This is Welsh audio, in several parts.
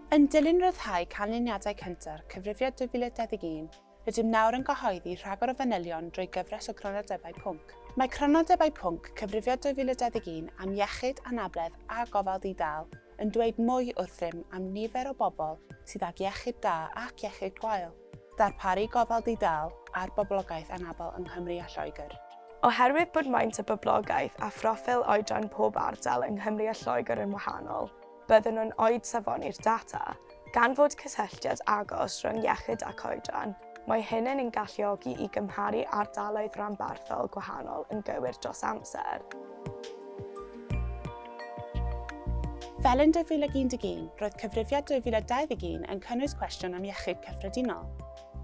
Yn dilyn ryddhau canlyniadau cynta'r Cyfrifiad 2021, rydym nawr yn cyhoeddi rhagor o fanylion drwy gyfres o Grynodebau Pwnc. Mae Crynodebau Pwnc Cyfrifiad 2021 am Iechyd, Anabledd a Gofal Di-dâl yn dweud mwy wrth rym am nifer o bobl sydd ag iechyd da ac iechyd gwael. Darparu gofal di-dâl ar boblogaeth anabl yng Nghymru a Lloegr. Oherwydd bod maint y boblogaeth a phroffil oedran pob ardal yng Nghymru a Lloegr yn wahanol, byddwn yn oed safoni'r data. Gan fod cysylltiad agos rhwng iechyd ac oedran, mae hyn yn ein galluogi i gymharu ardaloedd rhanbarthol gwahanol yn gywir dros amser. Fel yn 2011, roedd Cyfrifiad 2021 yn cynnwys cwestiwn am iechyd cyffredinol.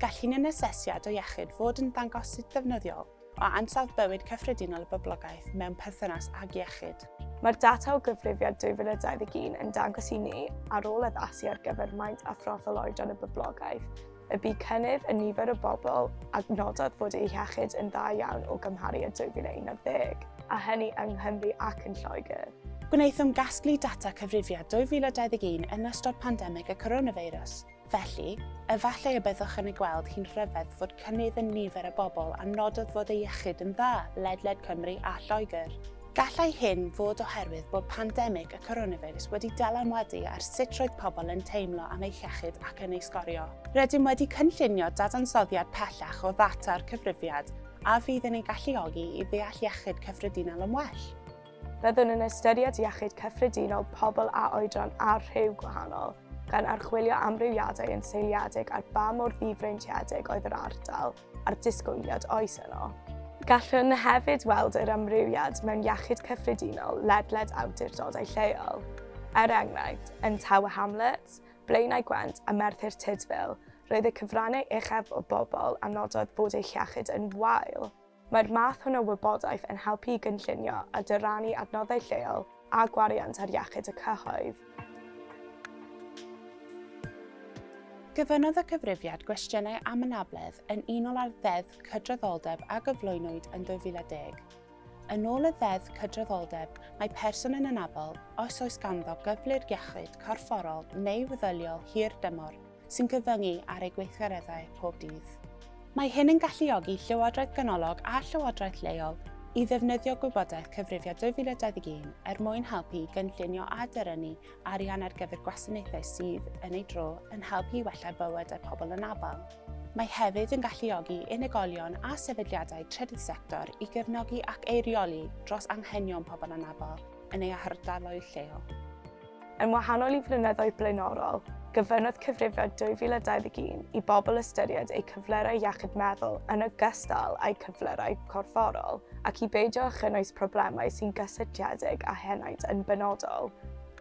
Gall un asesiad o iechyd fod yn ddangosydd ddefnyddiol o ansawdd bywyd cyffredinol y boblogaeth mewn perthynas ag iechyd. Mae'r data o Gyfrifiad 2021 yn dangos i ni, ar ôl addasu ar gyfer maint a phroffil oedran y boblogaeth, y bu cynnydd yn nifer y bobl a nododd fod eu hiechyd yn dda iawn o gymharu â 2011, a hynny yng Nghymru ac yn Lloegr. Gwnaethom gasglu data cyfrifiad 2021 yn ystod pandemig y coronafeirws, felly, efallai y byddwch yn ei gweld hi'n rhyfedd fod cynnydd yn nifer y bobl a nododd fod eu hiechyd yn dda ledled Cymru a Lloegr. Gallai hyn fod oherwydd bod pandemig y coronafeirws wedi dylanwadu ar sut roedd pobl yn teimlo am eu hiechyd ac yn ei sgorio. Rydym wedi cynllunio dadansoddiad pellach o ddata'r cyfrifiad a fydd yn ein galluogi i ddeall iechyd cyffredinol yn well. Byddwn yn ystyried iechyd cyffredinol pobl â oedran a rhyw gwahanol, gan archwilio amrywiadau yn seiliedig ar ba mor ddifreintiedig oedd yr ardal, a'r disgwyliad oes yno. Gallwn hefyd weld yr amrywiad mewn iechyd cyffredinol ledled awdurdodau lleol. Er enghraifft, yn Tower Hamlets, Blaenau Gwent a Merthyr Tudful, roedd y cyfrannau uchaf o bobl a nododd bod eu hiechyd yn wael. Mae'r math hwn o wybodaeth yn helpu i gynllunio a dyrannu adnoddau lleol a gwariant ar iechyd y cyhoedd. Gofynnodd y cyfrifiad gwestiynau am anabledd yn unol â'r Ddeddf Cydraddoldeb a gyflwynwyd yn 2010. Yn ôl y Ddeddf Cydraddoldeb, mae person yn anabl os oes ganddo gyflwr iechyd corfforol neu feddyliol hir dymor sy'n cyfyngu ar eu gweithgareddau pob dydd. Mae hyn yn galluogi llywodraeth ganolog a llywodraeth leol i ddefnyddio gwybodaeth Cyfrifiad 2021 er mwyn helpu i gynllunio a dyrynnu arian ar gyfer gwasanaethau sydd, yn ei dro, yn helpu i wella bywydau pobl anabl. Mae hefyd yn galluogi unigolion a sefydliadau trydydd sector i gefnogi ac eirioli dros anghenion pobl anabl yn eu hardaloedd lleol. Yn wahanol i flynyddoedd blaenorol, gofynnodd cyfrifo 2021 i bobl ystyried eu cyflyrau iechyd meddwl yn ogystal â'u cyflyrau corfforol ac i beidio â chynnwys problemau sy'n gysylltiedig â henaint yn benodol.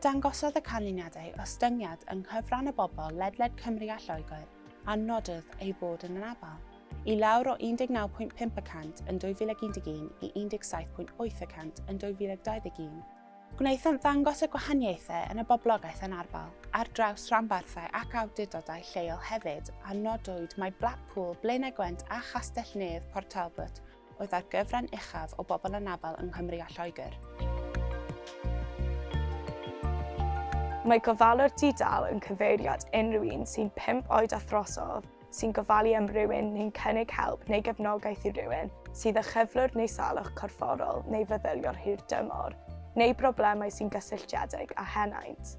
Dangosodd y canlyniadau ostyngiad yng nghyfran y bobl ledled Cymru a Lloegr a nododd ei fod yn anabl, i lawr o 19.5 y cant yn 2011 i 17.8 y cant yn 2021. Gwnaethant ddangos y gwahaniaethau yn y boblogaeth anarferol ar draws rhanbarthau ac awdurdodau lleol hefyd, a nodwyd mai Blackpool, Blaenau Gwent a Chastell-nedd Port Talbot oedd â'r gyfran uchaf o bobl anabl yng Nghymru a Lloegr. Mae gofalwr di-dâl yn cyfeiriad unrhyw un sy'n pump oed a throsodd sy'n gofalu am rywun neu'n cynnig help neu gefnogaeth i rywun sydd â chyflwr neu salwch corfforol neu feddyliol hir dymor, neu broblemau sy'n gysylltiedig â henaint.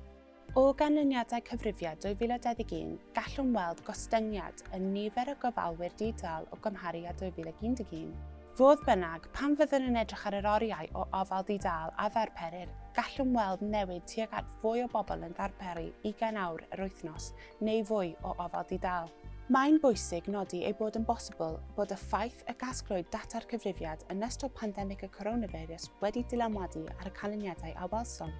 O ganlyniadau cyfrifiad 2021, gallwn weld gostyngiad yn nifer y gofalwyr di-dâl o gymharu â 2011. Fodd bynnag, pan fyddwn yn edrych ar yr oriau o ofal di-dâl a ddarperir, gallwn weld newid tuag at fwy o bobl yn darperu 20 awr yr wythnos neu fwy o ofal di-dâl. Mae'n bwysig nodi ei bod yn bosibl bod y ffaith y gasglwyd data'r cyfrifiad yn ystod pandemig y coronafeirws wedi dylanwadu ar y canlyniadau a welsom.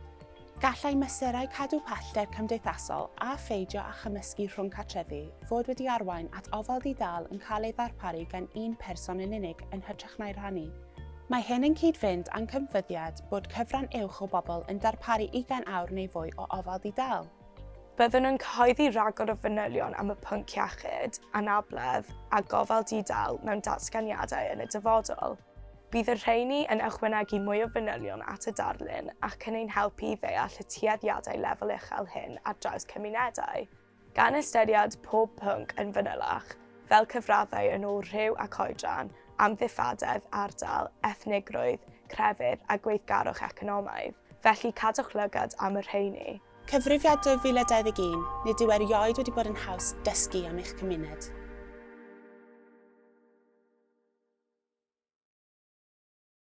Gallai mesurau cadw pellter cymdeithasol a pheidio â chymysgu rhwng cartrefi fod wedi arwain at ofal di-dâl yn cael ei ddarparu gan un person yn unig yn hytrach na'i rhannu. Mae hyn yn cyd-fynd â'n cymfyddiad bod cyfran uwch o bobl yn darparu ugain awr neu fwy o ofal di-dâl. Byddwn yn cyhoeddi rhagor o fanylion am y pwnc iechyd, anabledd a gofal di-dâl mewn datganiadau yn y dyfodol. Bydd y rheini yn ychwanegu mwy o fanylion at y darlun ac yn ein helpu i ddeall y tueddiadau lefel uchel hyn ar draws cymunedau. Gan ystyried pob pwnc yn fanylach, fel cyfraddau yn ôl rhyw ac oedran, amddifadedd, ardal, ethnigrwydd, crefydd a gweithgarwch economaidd, felly cadwch lygad am y rheini. Cyfrifiad 2021, Nid yw erioed wedi bod yn haws dysgu am eich cymuned.